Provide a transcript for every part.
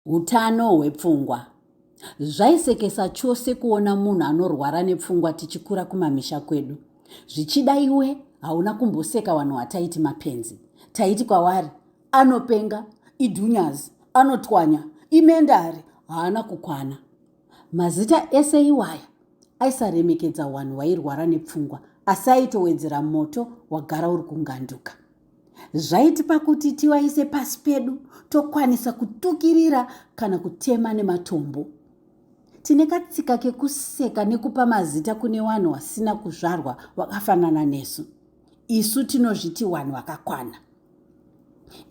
Utano hwepfungwa. Zvaisekesa chose kuona munhu anorwara nepfungwa tichikura kumamisha kwedu. Zvichida iwe hauna kumboseka vanhu wataiti mapenzi. Taiti kwavari anopenga, idhunyazi, anotwanya, imendari, haana kukwana. Mazita ese iwaya aisaremekedza wanhu wairwara nepfungwa asi aitowedzera moto wagara uri kunganduka. zvaitipa kuti tivaise pasi pedu tokwanisa kutukirira kana kutema nematombo tine katsika kekuseka nekupa mazita kune vanhu vasina kuzvarwa vakafanana nesu isu tinozviti vanhu vakakwana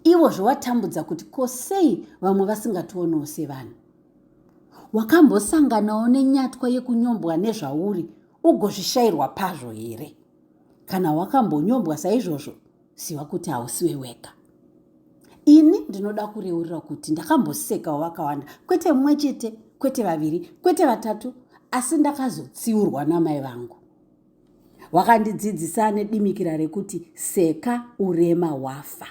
ivo zvovatambudza kuti ko sei vamwe vasingationewo sevanhu wakambosanganawo nenyatwa yekunyombwa nezvauri ugozvishayirwa pazvo here Kana wakambonyombwa saizvozvo, ziva kuti hausiwe wega. Ini ndinoda kureurira kuti ndakambosekawo vakawanda, kwete mumwe chete, kwete vaviri, kwete vatatu, asi ndakazotsiurwa namai vangu. Wakandidzidzisa nedimikira rekuti seka urema wafa.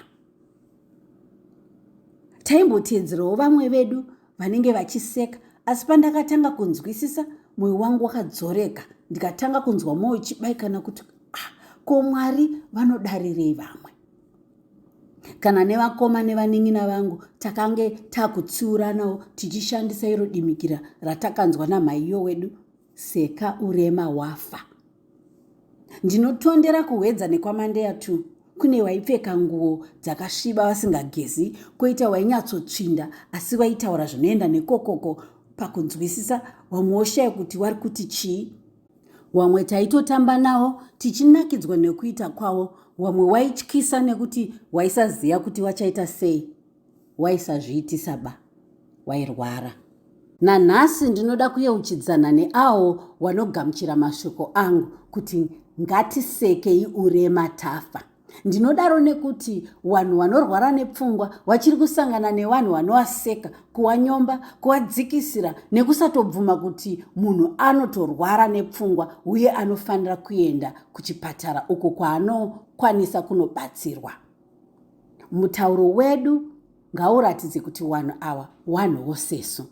taimboteedzerawo vamwe vedu vanenge vachiseka asi pandakatanga kunzwisisa mwoyo wangu wakadzoreka ndikatanga kunzwa mwoyo chibaikana kuti ah, ko mwari vanodarirei vamwe kana nevakoma nevanin'ina vangu takange takutsiuranawo tichishandisa iro dimikira ratakanzwa namhaiyo wedu Seka urema wafa. Ndinotondera kuhwedza nekwamandeya tu kune waipfeka nguo dzakasviba vasingagezi koita wainyatsotsvinda asi waitaura zvinoenda nekokoko pakunzwisisa wamwe woshaya kuti wari kuti chii wamwe taitotamba nawo tichinakidzwa nekuita kwavo wamwe waityisa nekuti waisaziva kuti wachaita sei waisazviitisa ba wairwara. Nanhasi ndinoda kuyeuchidzana neawo wanogamuchira mashoko angu kuti ngatisekei urema tafa. Ndinodaro nekuti wanhu wanorwara nepfungwa wachiri kusangana newanhu wanowaseka, kuwanyomba, kuwadzikisira nekusatobvuma kuti munhu anotorwara nepfungwa uye anofanira kuenda kuchipatara uko kwaanokwanisa kunobatsirwa. mutauro wedu ngauratidze kuti wanhu awa wanhu wosesu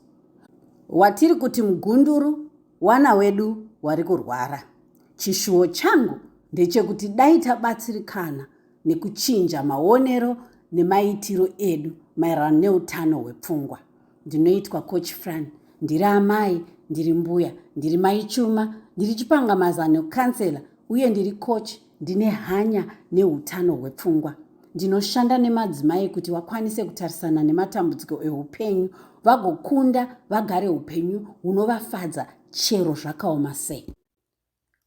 watiri kuti mugunduru wana wedu wari kurwara chishuwo changu ndechekuti dai tabatsirikana nekuchinja maonero nemaitiro edu maererano neutano hwepfungwa ndinoitwa coach fran ndiri amai ndiri mbuya ndiri maichuma ndiri chipangamazano kansela uye ndiri coach Ndine hanya neutano hwepfungwa. Ndinoshanda nemadzimai kuti vakwanise kutarisana nematambudziko eupenyu vagokunda vagare upenyu hunovafadza chero zvakaoma sei.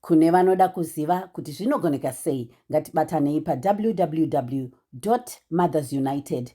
Kune vanoda kuziva kuti zvinogoneka sei, ngatibatanei pawww mothersunitedca.